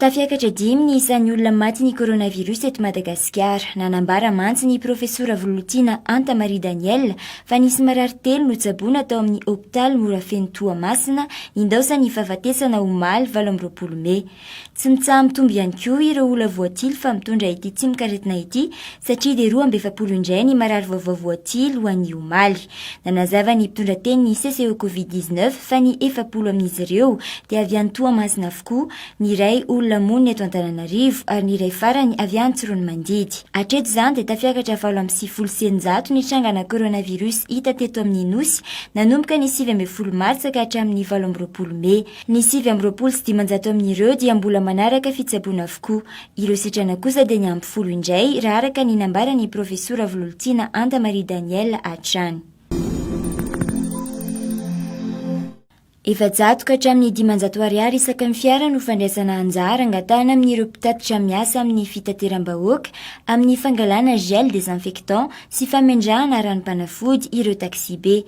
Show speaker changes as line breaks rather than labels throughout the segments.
Tafiakatra dimy ny isan'ny olona matin'ny coronavirus eto Madagasikara. Nanambara mantsy ny profesora Vololtiana Anta Marie Danielle fa nisy marary telo notsaboina tao amin'ny hopitaly Morafeno Toamasina, nindaosan'ny fahafatesana omaly valo amby roapolo mey. Tsy mitsaha-mitombo ihany koa ireo olona voatily fa mitondra ity tsimok'aretina ity satria dia roa amby efapolo indray ny marary vaovao voatily ho an'ny omaly. Nanazava ny mpitondra teny ny CCE Covid dix neuf fa ny efapolo amin'izy ireo dia avy any Toamasina avokoa, ny iray olona monina eto Antananarivo ary ny iray farany avy any Tsiroanomandidy. Hatreto izany dia tafiakatra valo amby sivifolo sy eninjato ny trangana coronavirus hita teto amin'ny Nosy nanomboka ny sivy ambin'ny folo martsa ka hatramin'ny valo amby roapolo mey. Ny sivy amby roapolo sy dimanjato amin'ireo dia mbola manaraka fitsaboana avokoa. Ireo sitrana kosa dia ny ampy folo indray, raha araka ny nambaran'ny Profesora Vololtiana Anta Marie Danielle hatrany. Efajato ka hatramin'ny dimanjato ariary isaky ny fiara no fandraisana anjara angatahana amin'ireo mpitatitra miasa amin'ny fitateram-bahoaka amin'ny fangalana gel désinfectant sy famendrahana ranom-panafody ireo taxi-be.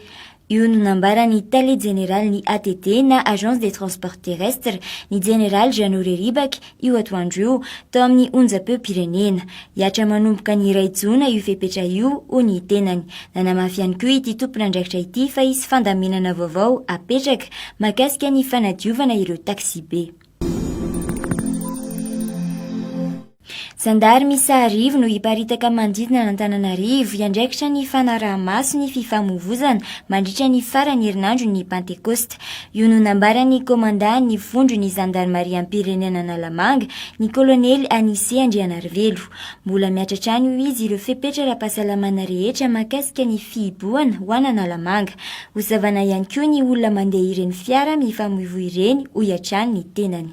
Io no nambaran'ny Tale Jeneralin'ny ATT na Agence des Transports Terrestres, ny Jeneraly Jeannot Reribaky, io atoandro io, tao amin'ny onjam-peom-pirenena. Hihatra manomboka ny iray jona io fepetra io, hoy ny tenany. Nanamafy ihany koa ity tompon'andraikitra ity fa hisy fandaminana vaovao hapetraka mahakasika ny fanadiovana ireo taksibe. Zandary miisa arivo no hiparitaka manodidina an'Antananarivo hiandraikitra ny fanaraha-maso ny fifamoivoizana mandritra ny faran'ny herinandron'ny Pantekôsta. Io no nambaran'ny komandan'ny vondron'ny zandarimariam-pirenena Analamanga, ny kolonely Anise Andrianarivelo. Mbola miatra hatrany hoy izy ireo fepetra ara-pahasalamana rehetra mahakasika ny fihibohana ho an'Analamanga. Hozavana ihany koa ny olona mandeha ireny fiara mifamoivoy ireny, hoy hatrany ny tenany.